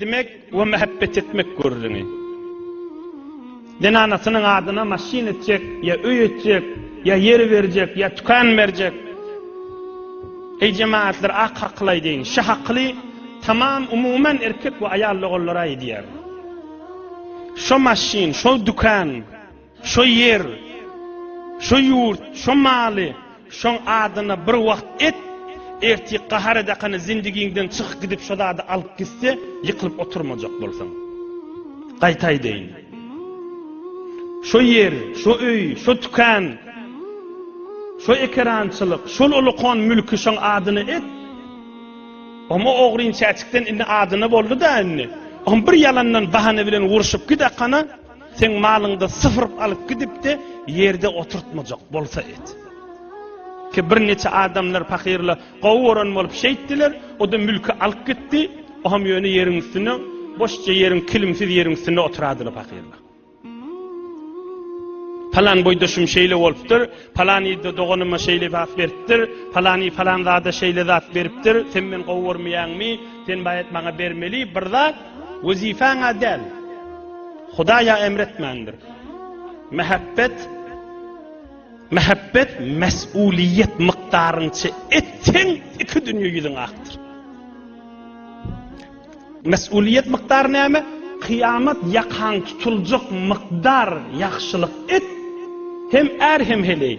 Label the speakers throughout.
Speaker 1: etmek we mähbet etmek görüzini. Zenanasynyň adyna maşyn etjek, ýa öý etjek, ýa ýer berjek, ýa tükän berjek. Eý jemagatlar ak hakyly aýdaýyn, şy hakyly tamam umuman erkek we aýal logallara aýdýar. Şo maşyn, şo dükän, şo ýer, şo ýurt, şo maly, Şoň adyna bir wagt et, ertir gahar edakany zindigiňden çykyp gidip şo zady alyp gitse ýykylyp oturmajak bolsaň. Gaýta aýdaýyn. Şo ýer, şo öý, şo tükan, şo ekerançylyk, şol ulukan mülki şoň adyna et. Omo ogryn çäçikden indi adyna boldy-da indi. Om bir ýalandan bahana bilen urşup gidakana. Seň malyňda syfyryp alyp gidipdi, ýerde oturtmajak bolsa et. Ki bir neçe adamlar pakyrla gowy gören bolup şeýtdiler, o-da mülki alyp gitdi, o-ham ýöne ýeriň üstünde, boşja ýeriň, kilimsiz ýeriň üstünde oturadylar pakyrla. Palan boýdaşym şeýle bolupdyr, palan ýerde doganyma şeýle zat beripdir, palany palan zada şeýle zat beripdir, sen meni gowy görmeýäňmi, sen baýat maňa bermeli bir zat. Wezipä-ňä däl, Hudaýa emr etmändir. Mähebbet, mähebbet mäsuliýet mykdaryňça etseň, iki dünýe ýüzüň akdyr. Mäsuliýet mykdary näme? Kyýamat ýakaň tutuljak mykdar ýagşylyk et, hem är, hem heleý.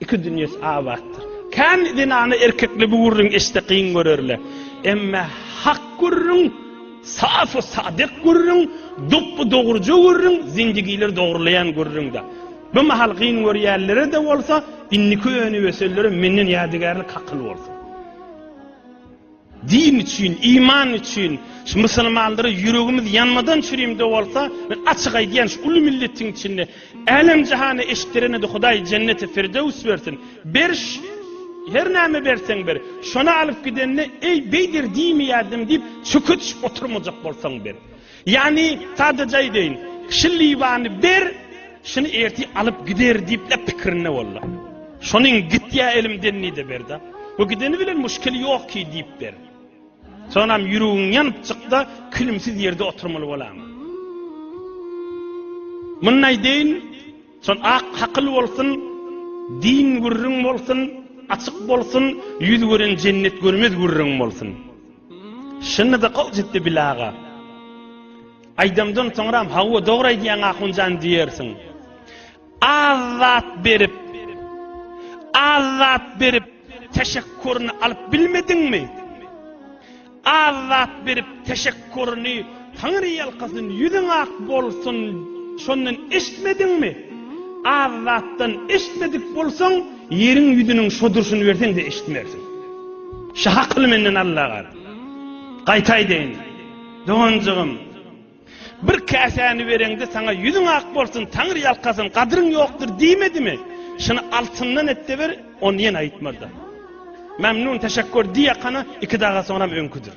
Speaker 1: Iki dünýesi abatdyr. Kän zenana erkekler bu gürrüňi eşitse kyn görerler. Emme hak gürrüň, safy sadyk gürrüň, dopby dogruja gürrüň, zendigileri dogrulaýan gürrüňdä. Bu mahal kyn görýänlere-de bolsa, indiki önüp ösenlere menden ýadygärlik hakyl bolsun. Din üçin, iman üçin şu musulmanlara ýüregimiz ýanmadan çürimde bolsa, men açyk aýdýan şu uly milletiň içinde älem jahana eşitdirenede Hudaý jenneti firdewüs bersin. Beriş her näme berseň ber. Şony alyp gidende eý beýder diýmeýärdim diýip çöke düşüp oturmajak bolsaň ber. Ýagny, sadaja aýdaýyn, kişi Liwany ber, şuny ertir alyp gider diýip-le pikirinde boldy. Şonuň gitýä elimden diýde ber-de. Bu gideni bilen muşkil ýok ki diýip ber. Sonam ýüregiň ýanyp çykda külümsiz ýerde oturmaly bolaňa. Muny aýdaýyn, şon ak hakyl bolsun, din gürrüň bolsun, açyk bolsun, ýüz gören jennet görmez gürrüň bolsun. Şunda-da gowy çykdy Bile aga. Aýdymdan soňram hawa dogry aýdýaň Ahunjan diýersiň. Az zat berip, az zat berip teşekkuryny alyp bilmediňmi? Az zat berip teşekkuryny Taňryýalkasyn, ýüzüň ak bolsun, şondan eşitmediňmi? Az zatdan eşitmedik bolsaň, ýeriň ýüzüniň şo durşuny berseň-de eşitmersiň. Şah akyly menden Alla gal. Gaýta aýdaýyn, doganjygym, bir käsäni bereňde saňa ýüzüň ak bolsun, Taňryýalkasyn, gadryň ýokdur diýmedimi? Şuny altyndan et-de ber, ony ýene aýtmaz-da. Mämnun, teşekgur diýýä kana, iki daga soňram öňküdir.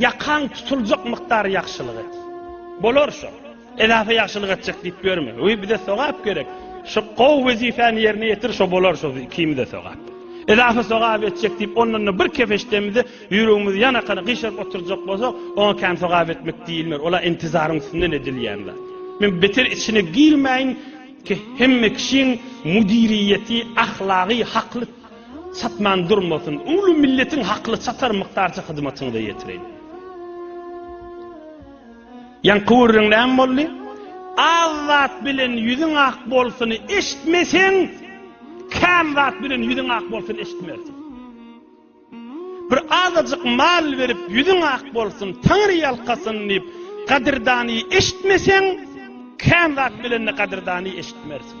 Speaker 1: Ýakaň tutuljak mukdary ýagşylyk et. Bolar şo. Edafa ýagşylyk etjek diýip ýörme. Öý bize sogap gerek. Şo gowy wezipäni ýerine ýetir şo bolar şo ikimize sogap. Edafa sogap etjek diýip ondanda bir kefeşdemizi ýüregimizi ýanakana gyşaryp oturjak bolsak oňa kän sogap etmek diýilmer ola intizaryň üstünden edilýän zat. Men beter içine girmäýin ki hemme kişiň müdiriýeti ahlagy hakly çatman durmasyn uly milletiň hakly çatar mykdarça hyzmatyňyza ýetireýin. Ýaňky gürrüň näme boldy? Az zat bilen ýüzüň ak bolsuny eşitmeseň, kän zat bilen ýüzüň ak bolsun eşitmersiň. Bir azajyk mal berip ýüzüň ak bolsun, Taňry ýalkasyn diýip, gadyrdany eşitmeseň, kän zat bilen-de gadyrdany eşitmersiň.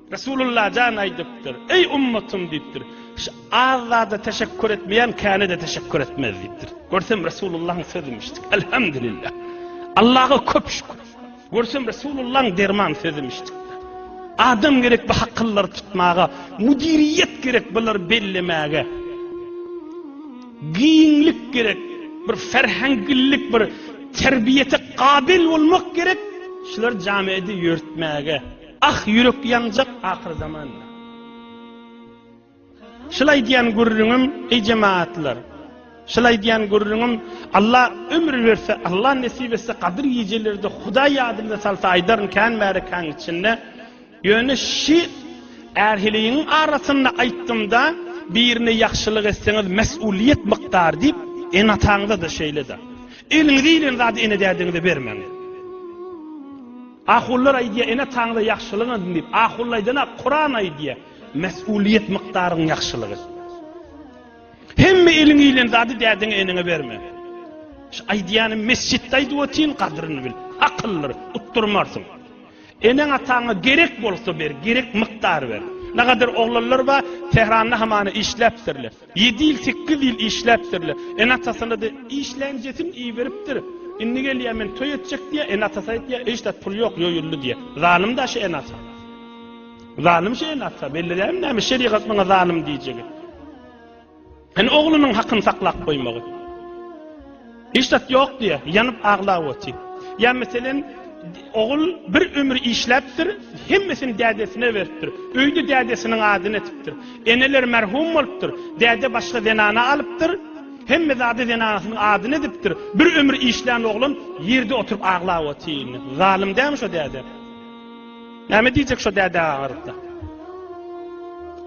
Speaker 1: Resulullah jan aýdypdyr, Eý ummatym diýipdir, şu az zada teşekkur etmeýän käne-de teşekkur etmez diýipdir. Görsem Resulullahyň sözümişdik. Elhamdülillah. Allaha köp şükür. Görsem Resulullahyň derman sözümişdik. Adam gerek bu hakyllary tutmaga, müdiriýet gerek bular bellemäge. Giňlik gerek, bir ferhengillik, bir terbiýete kabil bolmak gerek. Şular jamiýeti ýörtmäge. Ah ýürek ýanjak ahyr zamanda. Şul aýdýan gürrüňim eý jemagatlar. Şul aýdýan gürrüňim Alla ömür berse Alla nesip etse gadyr gijelerde Hudaý ýadymda salsa aýdaryn kän bäri kän içinde. Ýöne şi ärhiligiň arasynda aýtdymda birine ýagşylyk etseňiz mes'ulyýet mykdary diýip ene-ataňyzada şeýlede. Eliňize ilen zady ene-dädeňize bermäň. Ahunlar aýdýar, Ene Taňra ýagşylygyň edin diýip. Ahun aýdana, Kuran aýdýar, Mes'ulyýet mykdaryň ýagşylygy. Hemme eliň iýlen zady dädeňe, eneňe berme. Şu aýdýanym mesjitde aýdyp otyryn, gadryny bil. Akyllyr, utdurmarsyň. Eneň ataňa gerek bolsa ber, gerek mykdary ber. Nagadar oglanlar bar, Tähranda hamana işläpdirler. Ýedi ýyl, sekiz ýyl işläpdirler. Ene-atasyna-da işlänjesini iberipdir. Indi gelýär, men toý etjek diýýär. Ene-atasy aýdýar, Eý, ştat pul ýok, ýoýuldy diýýär. Zalym-da şu ene-ata. Zalym şu ene-ata. Belledäými näme, şerigat muňa zalym diýjegi. Hany oglunyň hakyny saklap goýmagy. Hiç zat ýok diýýär, ýanyp aglap otyr. Ýa meselem, ogul bir ömür işläpdir, hemmesini dädesine beripdir. Öýde dädesiniň adyny etipdir. Eneler merhum bolupdyr, däde başga zenana alypdyr, hemme zady zenanasynyň adyny edipdir. Bir ömür işlän oglan ýerde oturyp aglap otyr indi. Zalym dälmi şo däde? Näme diýjek şo däde agyrypda.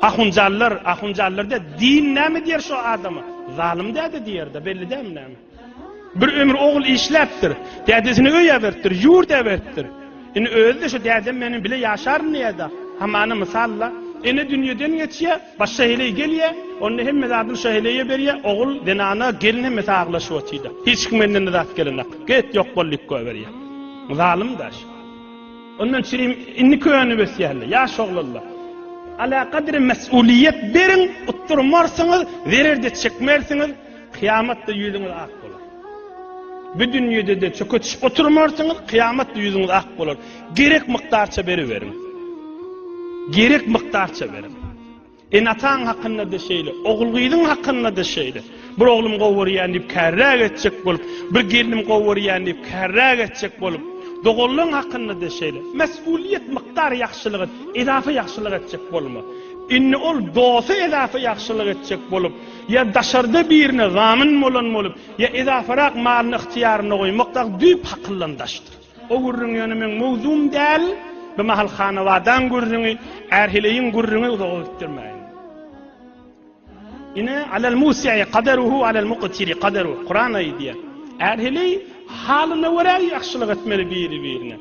Speaker 1: Ahunjallar, ahunjallar de din näme diýer şo adama? Zalym däde diýerde, belli dämi näme? Bir ömür ogul işläpdir. Dädesini öý äbertdir, ýurt äbertdir. Indi özi de şo dädem meniň bile ýaşaryn diýerde. Hamana mysalla, ene dünýeden geçýär, başga heleý gelýär, onda hemme zadyny şo heleýe berýär, ogul, zenana, gelin hemme saglaşyp otyda. Hiç kim menden zat gelenok. Get ýok bol lik goýberýär. Zalym daş. Ondan çirim indi könüp ösýärler, ýaş oglanlar. Alakadar mesulyýet beriň, utdurmarsyňyz, zerer-de çekmersiňiz, kyýamatda ýüzüňiz ak bolar. Bu dünýede-de çöke çyşyp oturmarsyňyz, kyýamatda ýüzüňiz ak bolar. Gerek mukdarça beriberiň. Gerek mukdarça beriň. Ene-ataň hakynda-da şeýle, ogul-gyzyň hakynda-da şeýle. Bir oglum gowy görýän diýip kärräk etjek bolup, bir gelnim gowy görýän diýip kärräk etjek bolup, doganlaň hakynda-da şeýle. Mesulyýet mykdar ýagşylyk et, edafa ýagşylyk etjek bolma. Indi ol dosta edafa ýagşylyk etjek bolup, ýa daşarda birine zamin bolan bolup, ýa edafarak malyny ygtyýarynda goýmakda düýp hakyllan daşdyr. O gürrüň ýöne meň mowzugym däl. Bu mahal hanabadaň gürrüňi, ärheleýiň gürrüňi uzaga gitdirmäýin. Ine, alal musiýi kadaruhu alal muktiri kadaruh. Kuran aýdýar. Ärheleý halyna görä ýagşylyk etmeli biri-birine.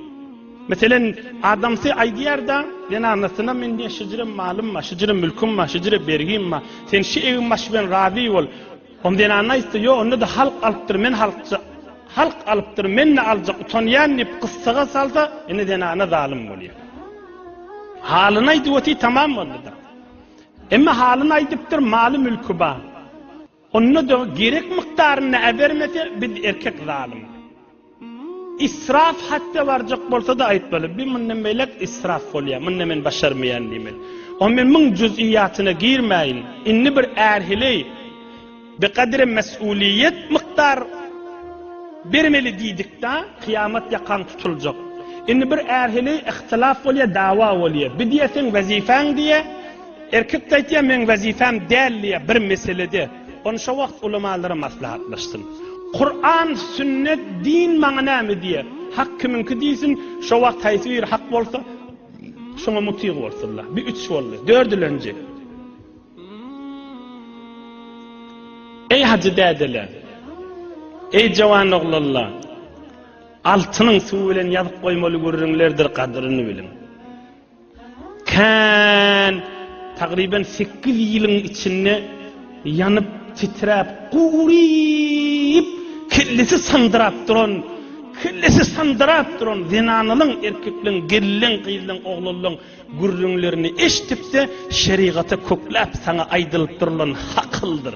Speaker 1: Meselen, adamsy aýdýar-da, zenanasyna men diýýär, şijire malym bar, şijire mülküm bar, şijire bergim bar. Sen şi egin baş bilen razy bol. Hom zenanna aýtdy, Ýok, onda-da halk alypdyr, men halkja. Halk alypdyr, men-de aljak, utanýan diýip, gyssaga salsa, indi zenana zalym bolýar. Halyny aýdyp otyr, tamam boldy-da. Emma halyny aýdypdyr, maly-mülki bar. Onda-da gerek mukdarynda äbermese, biz erkek zalym. Israf hatda barjak bolsa-da aýtmaly, bi mundan beýläk israf bolýar, munda men başarmaýan diýmeli. Ony men muň juz'iyyatyna girmäýin. Indi bir ärhili bi gadri mes'uliýet mukdar bermeli diýdikda, kyýamat ýakaň tutuljak. Indi bir ärhili ihtilaf bolýar, dawa bolýar. Bi diýýär seň wezifäň diýýär, erkek-de aýtýar meň wezifäm däl diýýär bir meselede. Ony şo wagt ulamalara maslahatlaşsyn. Kuran, sünnet, din maňa näme diýýär? Hak kimiňki diýsin, şo wagt haýsy biri hak bolsa, şoňa mutyg bolsunlar. Bu üç boldy. Dördülenji. Eý hajy dädeler, eý jawan oglanlar, altynyň suwy bilen ýazyp goýmaly gürrüňlerdir gadyryny biliň. Kän tagryban sekiz ýylyň içinde ýanyp, titräp, guryp, kellesi sandyrap duran, kellesi sandyrap duran zenanalaň, erkekleň, gelleň, gyzlaň, oglanlaň gürrüňlerini eşidip-de, şerigata kökläp, saňa aýdylyp durulan hakyldyr.